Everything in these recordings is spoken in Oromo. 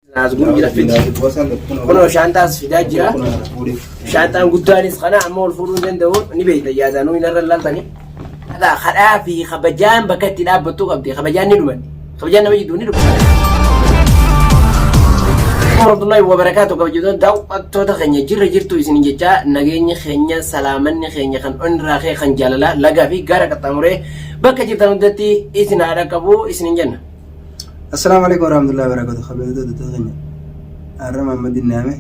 Naas gurgii laffitti. Kunoo shaantaas fidaa jira. Shaantaan guddaanis kana amma ol fuudhuu hin danda'u ni beekta yaadaan nuyi narra laaltanii. Hataa kadhaa fi kabajaan bakka itti dhaabbattuu qabdi. Kabajaan ni dhumanne. Kabajaan nama jidduu ni dhumanne. Warahmatullahi wabarakatuh kabajatoota daawwattoota keenya jirra jirtu isin jechaa nageenyi keenya salaamanni keenya kan onirraa kee kan jaalalaa lagaa fi gaara qaxxaamuree bakka jirtan hundatti isin haa dhaqqabu isin jenna. Assalaamu alaikum warahmatullahi wabarakatuh. Kabajamtoota hordoftoota keenya. Har'a Maammadin naame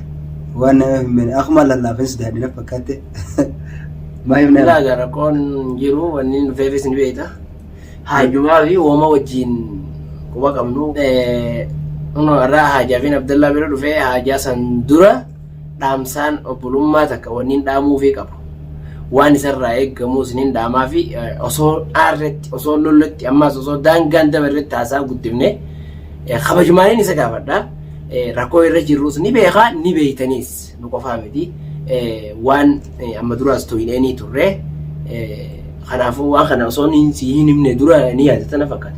waan nameef hin beekne akkuma lallaafin si daadhina fakkaatte. Maal himna? Alhamdulillah egaa rakkoon hin jiru wanni hin dhufeefis ni beekta. Haajumaa fi wooma wajjin quba qabnu. Eh, Kunoo irraa haajaa fi Abdallaa bira dhufee haajaa san dura dhaamsaan obbolummaa takka wanniin dhaamuufii qabu waan isarraa eeggamu isiniin dhaamaa fi osoo aarretti osoo lolletti ammaas osoo daangaan dabarretti haasaa guddifne kabajmaaniin isa gaafadha rakkoo irra jirrus ni beekaa ni beeytaniis nu qofaa miti waan amma duraas tooyineenii turre kanaafuu waan kana osoo si hin himne dura ni yaadatana fakkaata.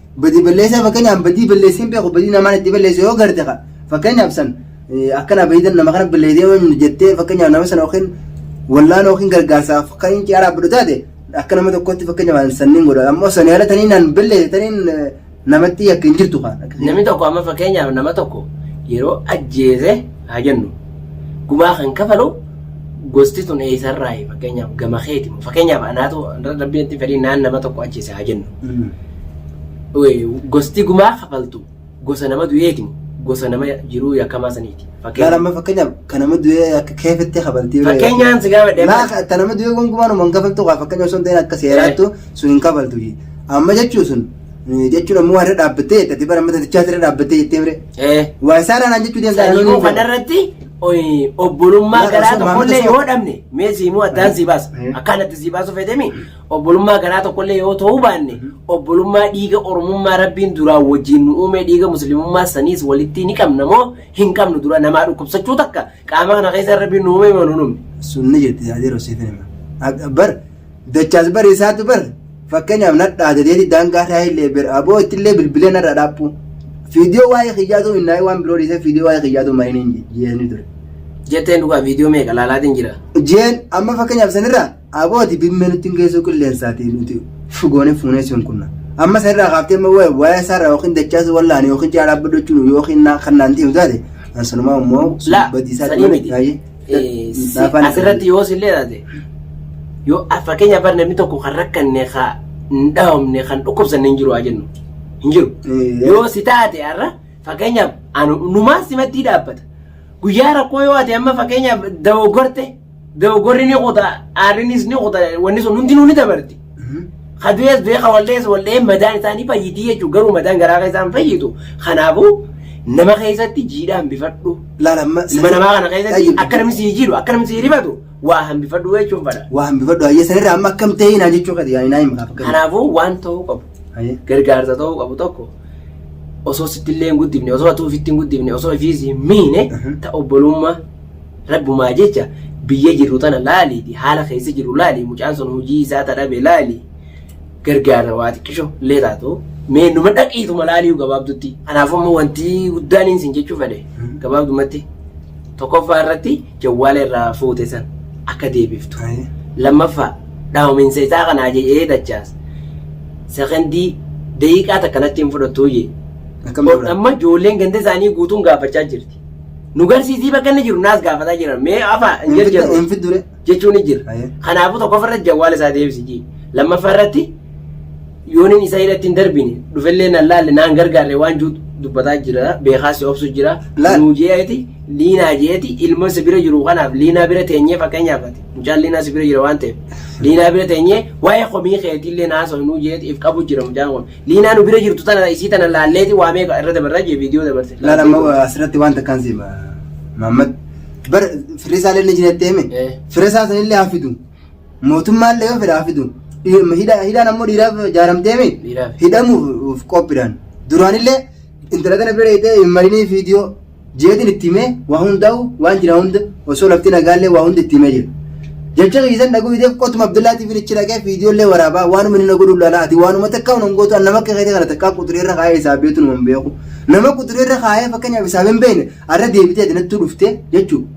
Badii balleessaa fakkeenyaaf badii balleessee hin beeku badii namaan itti balleesse yoo garte ka fakkeenyaaf san akkana bayidan nama kana balleessee yoo hin jettee fakkeenyaaf nama sana yookiin wallaan yookiin gargaarsaaf kan hin ciyaaraa badhu taate akka nama tokkotti fakkeenyaaf sanniin godha ammoo sanii ala tanii naan balleesse taniin namatti yakka hin jirtu kaa. Namni tokko amma fakkeenyaaf nama tokko yeroo ajjeese haa jennu gumaa kan kafalu gosti tun eessarraayi fakkeenyaaf gama keeti moo fakkeenyaaf anaatu rabbiin itti fedhii naan nama tokko ajjeese haa jennu Wee, gosti gumaa kafaltu gosa nama du'eeti moo gosa nama jiruu yakkamaa saniiti Laala fakkeenyaaf amma fakkeenyaaf kan nama du'ee akka keefetti kabaltii fakkeenyaan si gaafadhe Laa ka- ta nama du'ee gonkumaan uman kafaltu kaa fakkeenya osoo hin ta'in akka seeraattu sun hin kafaltu. Amma jechuun sun jechuun ammoo waa irra dhaabbattee jette ati bara mata dachaa irra dhaabbattee jettee mire Eh. waa isaa raanaan jechuu deemtaa Sanyoo kanarratti oyi, obbolummaa Maal garaa osoo tokkollee maamila yoo dhabne mee siimuu addaan sii baasa Eh. akkaanatti sii baasuu fedhemi obbolummaa garaa tokkollee yoo ta'uu baanne obbolummaa dhiiga oromummaa rabbiin duraa wajjin nu uumee dhiiga muslimummaa saniis walitti ni qabna moo hin qabnu dura namaa dhukkubsachuu takka Qaama kana keessa rabbiin nu uume manu numne. Sunni jirti yaa yeroo siif hima. Bar dachaas bar isaatu bar fakkeenyaaf nadhaa dedeeti daangaa irraa illee bar aboo itti illee bilbilee narraa dhaabbu. Fiidiyoo waa'ee kiyyaatu minnaa'ee waan biroo dhiisee fiidiyoo waa'ee kiyyaatu mariin hin jeesni ture. Jetteen dhugaa viidiyoo meeqa laalaatiin jira. Jeen amma fakkeenyaaf sanirraa Aboo ati bimmee nutti hin geessuu qilleensaatii nuti fu goone fuunee si hunkunna. Amma san irraa kaaftee amma wa- waa'ee isaa irraa yookiin dachaasuu wallaani yookiin caalaa baddochuu nu yookiin naa- kan naan ta'u taate an sanumaa immoo sun Laa, badii isaatti sanii malee miti. baay'ee. Eh, si- Laafaan asirratti yoo sillee taate yoo a- fakkeenya bar namni tokko kan rakkanne ka hin dhahamne kan dhukkubsanne hin jiru haa jennu hin jiru Eh, yoo si taate har'a fakkeenyaaf anu numaan simattii dhaabbata guyyaa rakkoo yoo ate amma fakkeenyaaf dogoggorte Dogoggorri ni kuta, aarrinis ni kuta, wanni sun hundinuu ni dabarti. Ka du'ees du'ee ka wal'ees wal'ee madaan isaa ni fayyitii jechuudha. Garuu madaan garaa keessaa hin fayyitu. Kanaafuu nama keessatti jiidhaa hambifadhu. Laala amma Ilma namaa kana keessatti Tayyib. akka namni sii jiidhu, akka namni sii rifatu waa hambifadhu jechuun fadha. waa hambifadhu hayyee sanirraa amma akkam ta'ee naa jechuu kati yaa naa himu kaaf akkam. Kanaafuu waan ta'uu qabu. Haye. gargaarsa ta'uu qabu tokko osoo sitti illee hin guddifne osoo atuu ofitti hin guddifne osoo ofiis hin miine Mhm. ta obbolummaa rabbumaa jecha biyya jirru tana laaliiti haala keessa jirru laali mucaan sun hojii isaa ta dhabe laali gargaarsa waa xiqqisho illee taatu mee numa dhaqiituma laaliyu gabaabdutti kanaafuu immoo wanti guddaan inni sin jechuu fedhe Mhm. gabaabdumatti tokkoffaa irratti jawwaala irraa fuute san akka deebiftu. Haye. Lammaffaa, dhawaminsa isaa kana ajajee dachaas sekondii daqiiqaa takka natti hin fudhattuu jee. Akkam Ol- godhan? Amma ijoolleen ganda isaanii guutuun gaafachaa jirti. Nu garsiisii bakka inni jiru naas gaafataa jiran mee afaa hin Hin fidda- jajjaru hin fiddure. jechuun ni jira. Haye. Kanaafuu tokkoffaa irratti jawwaala isaa deebisi jee. Lammaffaa irratti Yoonin isa irratti hin darbine, dhufellee nan laalle, naan gargaarre waan jiru dubbataa jira, beekaas si obsu jira. Laal. Nuu je'eeti, Liinaa je'eeti, ilmoon si bira jiru kanaaf Liinaa bira teenyee fakkeenyaaf ati, mucaan Liinaa si bira jira waan ta'eef, Liinaa bira teenyee waa'ee komii keetiillee haasoynu je'eeti if qabu jira mucaan kun. Liinaa nu bira jirtu tana isii tana laalleeti waa meeqa irra dabarraa jee viidiyoo dabarte. Laal amma asirratti waan takkaan si hima. Maammad bar firri isaallee ni jira jettee hime. Eh. Fira isaa sanillee haa fidu. Mootummaan illee yoo fedhaa fidu dhimma hidha- hidhaan ammoo dhiiraaf jaaramteemi Dhiiraaf. hidhamuuf qophiidhaan duraanillee intala kana bira dheeytee hin marinii viidiyoo jeetiin itti himee waa hundaa'u waan jira hunda osoo lafti nagaallee waa hunda itti himee jira. Jecha keessan dhaguu fideef qotuma Abdullaatiif hin ichi dhaqee viidiyoollee waraabaa waanuma inni na godhu laalaa ati waanuma takka hin hongootu an nama akka keetii kana takka quxurii irra kaa'ee isaa beetu nu hin beeku. Nama quxurii irra kaa'ee fakkeenyaaf isaa hin beekne arra deebitee ati nattuu dhuftee jechuudha.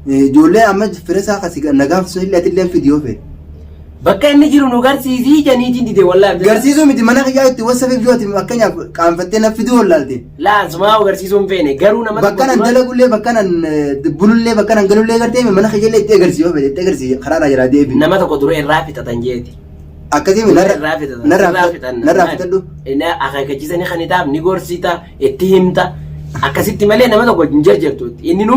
Ijoollee amma firesaa kasi nagaan sun illee atillee fidi yoo feete. Bakka inni jiru nu garsiisii janiitiin dide wallahi. Garsiisuu miti mana kiyyaa itti wasafe yoo ati fakkeenyaaf qaanfattee na fiduu wallaalte. Laa sumaa agarsiisuu hin feene garuu nama Bakka nan dalagullee bakka nan bulullee bakka nan galullee gartee mana kiyyaa illee itti agarsiisuu yoo feete itti agarsiisi karaa irraa jiraa deebi. nama tokko dura irraa fixatan jeeti. Akkasii Dura narra irraa fixatan. narraa Irraa fita- fixan. narraa fitadhu. Inni akeekkachiisanii kan hitaaf ni gorsiita itti himta. Akkasitti malee nama tokko hin jarjartu. Inni nu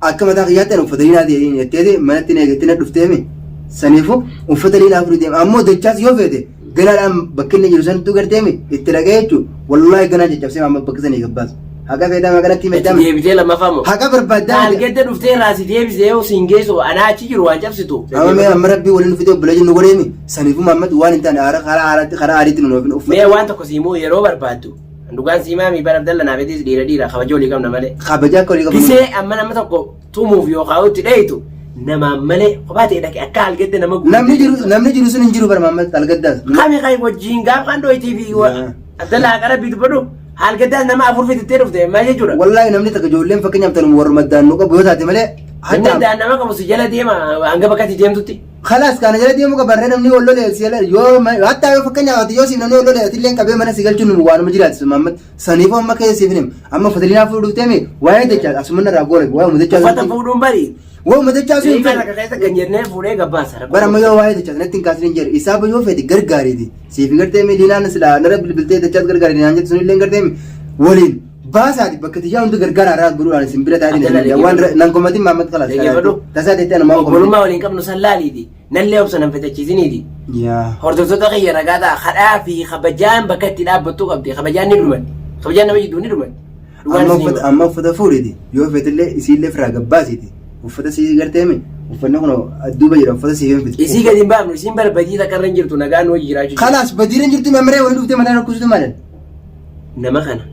Akka mataa kiyyaatti ani uffata liinaa ta'e jetteeti manatti na eegattee na dhufteemi. Saniifuu uffata liinaa furii deema. Ammoo dachaas yoo feete ganaadhaan bakki inni jiru sanattuu garteemi itti dhaqee jechuun wallaahi ganaan caccabsee amma bakka sanii gabbaas. Haqa feetaa maganatti Itti meeddame. deebitee lammaffaa moo? Haqa barbaaddaa. Taalgedda dhuftee irraa si deebisee yoo siin geessu anaa achi jiru waan cabsitu. Amma mee amma rabbii waliin fidee obbolee jennu godheemi. Saniifuu maammatti waan hin taane haara karaa haaraatti karaa aariitti nu nuuf hin uffanne. Mee waan tokko siimuu yeroo barbaaddu Dhugaan sii maamii bara Abdalla naaf hedis dhiira dhiira kabaja olii qabna malee. Kabaja akka olii qabu. Bisee amma nama tokko tumuuf yookaan itti dheeytu namaan malee kophaa ta'e dhaqe akka algedde nama guutuu. Namni jiru namni jiru sun hin jiru bara Maammas Algaddaas. Kami kai wajjin gaaf kan dho'itii fi wa- Yaa. Abdalla haqara biitu badhu algeddaas nama afur fitittee dhufte maal jechuudha. Wallaahi namni takka ijoolleen fakkeenyaaf tanuma warra maddaan nu qabu yoo taate malee. Namni daan nama qabu si jala deema hanga bakkatti deemtutti. Khalas kana jala deemuu qaba barree namni wal lolee si ala yoo hatta yoo fakkeenyaaf ati yoo siif namni wal lolee ati illee qabee mana si galchuun nu waanuma jiraachisa Muhammad saniifuu amma ka'ee siif him amma fadiliinaa fuudhuu dhuftee mi waa'ee dachaa asuma narraa goole waa'ee mudachaa Uffata fuudhuun bari. waa'ee mudachaa sun Eegaa takka keessa kan jennee fuudhee gabbaasa. bara amma yoo waa'ee dachaa sanatti hin kaasin hin jedhe isaa yoo fedhe gargaariiti siif gartee mi diinaan silaa nara bilbiltee dachaas gargaariiti naan jettu sun illee gartee mi waliin Baasaati bakka tiyyaa hundi gargaara irraa gurguraan isin bira taa'ee Adala deemaa waan dhaggeeffadhu. nan komatiin maammat kalaas Dhaggeeffadhu. tasaa deettee ana maam Obbolummaa waliin qabnu san laaliiti. Nallee obsa nan fitachiisiniiti. Yaa. Hordoftoota kiyya ragaa ta'a. Kadhaa fi kabajaan bakka itti dhaabbattuu qabdi. Kabajaan ni dhumatti. Kabajaan nama jidduu ni dhumatti. Dhugaan Amma isin uffata hima. amma uffata fuudhiti yoo feetillee isiillee firaa gabbaasiti uffata sii garteemi uffanni kun duuba jira uffata sii hin Isii gadi hin baafnu. Isiin barbadii takka irra hin jirtu nagaan hojii jiraachuu. Kalaas badiireen jirtu mamaree wani dhuftee mataa rakkusutu maalan. nama kana.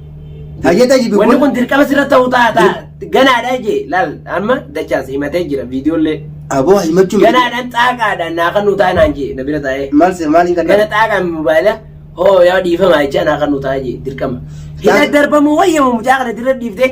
Hayyee xayyibi Wanni kun dirqama sirra ta'uu ta'a ta'a. Ganaadha jee laal amma dachaas himatee jira viidiyoollee. aboo himachuu Ganaadhaan xaaqaadhaan naa kan nu ta'a naan jee na bira taa'ee. maal se maaliin kan Gana xaaqaan mobaayila hoo yaa dhiifama jechaa naa kan nu ta'a jee dirqama. Hidha darbamuu wayyama mucaa kana dirra dhiiftee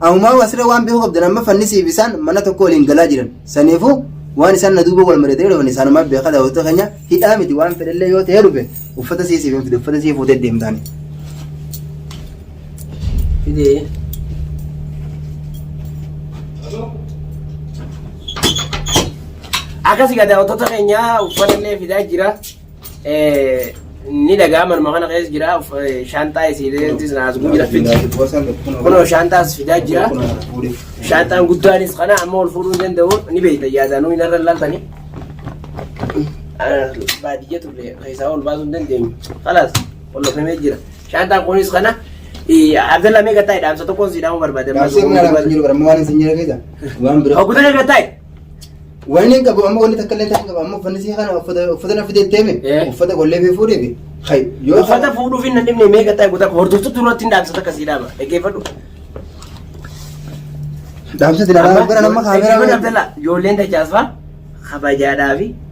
Amumaa wasirra waan beekuu qabdan amma fannisiif isaan mana tokko waliin galaa jiran. Saniifuu waan isaan na duuba wal mari'atanii dhufan isaanumaaf beekaa daawwattoota keenya hidhaa miti waan fedhallee yoo ta'ee dhufe uffata sii siif hin fide uffata sii fuutee deemtaani. Fidee. Akkasii daawwattoota keenya uffata illee fidaa jira. ni dhagaa manuma kana keessa jira shaantaa isiileetis naasguu jira fiddi kunoo shaantaas fidaa jira shaantaan guddaanis kana amma ol fuudhuu hin danda'u ni beekta yaadanuu hin irra laaltanii baadiyya turre keessaa ol baasuu hin dandeenyu kalaas ol lafamee jira shaantaan kunis kana abdalla mee gataa dhaamsa tokkoon si dhaamuu barbaade Gaafsee kun alaabaa jiru bara waan isin jira keessa waan bira. hoggutanii gataa Wanni hin qabu amma wanni takka illee hin qabu amma uffanni sii kana uffata uffata na fidee deeme Eh. uffata gollee fi fuudhee fi hay yoo Uffata fuudhuuf hin dandeenye meeqa ta'e guutaa hordoftu duratti hin dhaamsa takka sii dhaama. Dhaggeeffadhu. dhaamsa dilaalaa bara nama kaameeraa Dhaggeeffadhu Abdallaa. Ijoolleen dachaasfaa kabajaadhaa fi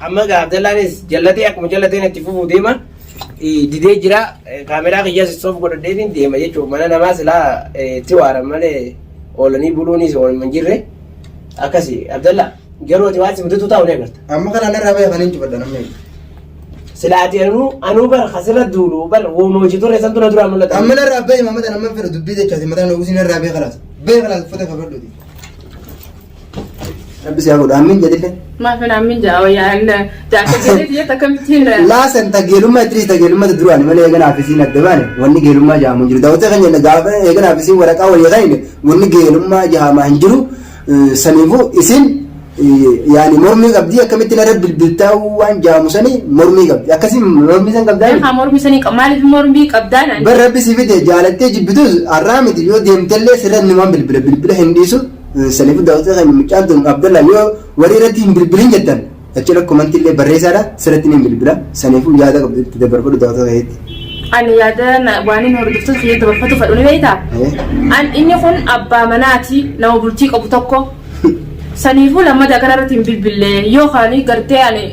Amma gaa Abdallaanis jallatee akkuma jallateen itti fufuu deema. Eh, Didee jira eh, kaameraa kiyyaas istoof godhadheetiin deema jechuudha. Mana namaa silaa eh, itti waaran malee oolanii buluunis oolma hin jirre. Akkasi Abdallaa garuu ati waan si mudatu taa'u ni agarta. Amma kana narraa bahe kan hin jibadha namni. Silaa ati anuu anuu bara kasirra duulu bara wooma hojii turre santu na duraa mul'ata. Amma narraa bahe mamata nama fira dubbii jechaati mataa nugusi narraa bahe kalaas. Bahe kalaas uffata fafadhuuti. Rabbi si haa godhu ammiin jedhillee. Maaf hin ammin jaa wayyaan jaarsa jedhee biyyoota akkamittiin Laasan ta geelummaa itti ta geelummaa duraani malee eeganaa fi siin adda baane wanni geelummaa jaamu hin jiru. Daawwatee kan jenna gaafa eeganaa fi siin waraqaa walii kan hin wanni geelummaa jaamaa hin jiru. Saniifuu isin yaani mormii qabdii akkamitti narra bilbiltaa waan jaamu sanii mormii qabdi. Akkasii mormii san qabdaa miti. Haa mormii sanii qaba maaliif mormii qabdaa naan. Bar rabbi si fide jaalattee jibbitus har'aa miti yoo deemtellee sirra numaan bilbila bilbila hin dhiisu Sanifu dawatota keenya mucaan tun Abdallaan yoo warii irratti hin bilbilin jettan achirra komantii illee barreessaadha sirratti ni bilbila sanifu yaada qabdu itti dabarfadhu dawatota keetti. Ani yaada waanin hordoftoota kiyya dabarfatu fadhu ni beektaa? An inni kun abbaa manaati nama bultii qabu tokko. Saniifuu lammata kanarratti hin bilbille yookaan gartee ani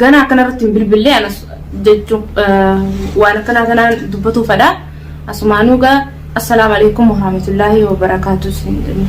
Ganaa akkana irratti hin bilbillee anas jechuun waan akkanaa kanaan dubbatuu fadha asumaanuu gaa assalaamu alaikum warahmatullaahi wabarakaatu siin jedhee.